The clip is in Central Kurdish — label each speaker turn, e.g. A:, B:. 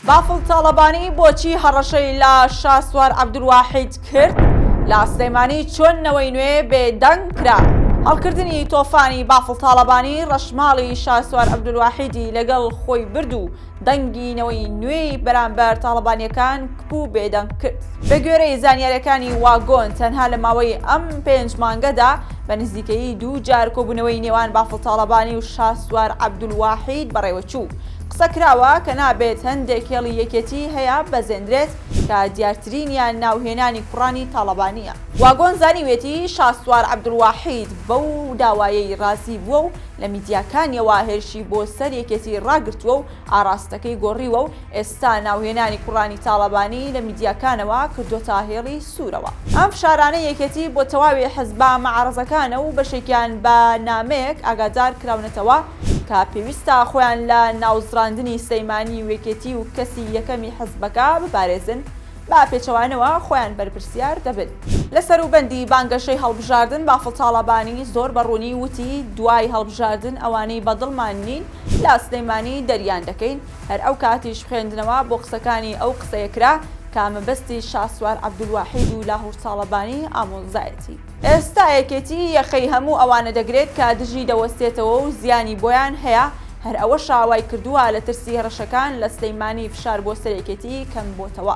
A: بافڵ تاڵەبانی بۆچی هەڕەشەی لە شاسوار عەبدولواحید کرد؟ لە سلێمانی چۆن نەوەی نوێ بێدەنگ کرا؟ هەڵکردنی تۆفانی بافڵ تاڵەبانی ڕەشماڵی شاسوار عەبدولواحیدی لەگەڵ خۆی برد و دەنگی نەوەی نوێی بەرامبەر تاڵەبانییەکان کپ و بێدەنگ کرد. بەگوێرەی زانیارییەکانی واگۆن تەنها لە ماوەی ئەم پێنج مانگەدا بە نزیکەیی دوو جار کۆبوونەوەی نێوان بافڵ تاڵەبانی و شاسوار عەبدولواحید بەڕێوەچوو. قسە کراوە کە نابێت هەندێک هێڵی یەکێتیی هەیە بەزێندرێت، کە دیارترینیان ناوهێنانی کوڕانی تاڵەبانییە. واگۆن زانیویەتی شاسوار عەبدولواحید بەو داوایەی رازی بووە و لە میدیاکانییەوە هێرشی بۆ سەر یەکێتی راگرتووە و ئاراستەکەی گۆڕیوە و ئێستا ناوهێنانی کوڕانی تاڵەبانی لە میدیاکانەوە کردۆتە هێڵی سوورەوە. ئەم فشارانەی یەکێتی بۆ تەواوی حزبە مەعارەزەکانە و بەشێکیان بە نامەیەک ئاگادار کراونەتەوە، کە پێویستە خۆیان لە ناوزڕاندنی سلەیمانی و یەکێتی و کەسی یەکەمی حزبەکە بپارێزن، بە پێچەوانەوە خۆیان بەرپرسیار دەبن. لە سەروبەندی بانگەشەی هەڵبژاردن بافڵ تاڵەبانی زۆر بە ڕوونی وتی، دوای هەڵبژاردن ئەوانەی بە دڵمان نین لە سلەیمانی دەریان دەکەین، هەر ئەو کاتیش خوێندنەوە بۆ قسەکانی ئەو قسەیە کرا کە مەبەستی شاسوار عەبدولواحید و لاهوور تاڵەبانی ئامۆزایەتی. ئێستا یەکێتی یەخەی هەموو ئەوانە دەگرێت کە دژی دەوەستێتەوە و زیانی بۆیان هەیە، هەر ئەوەشە وای کردووە لە ترسی هەڕەشەکان لە سلێیمانی فشار بۆ سەر یەکێتی کەم بۆتەوە.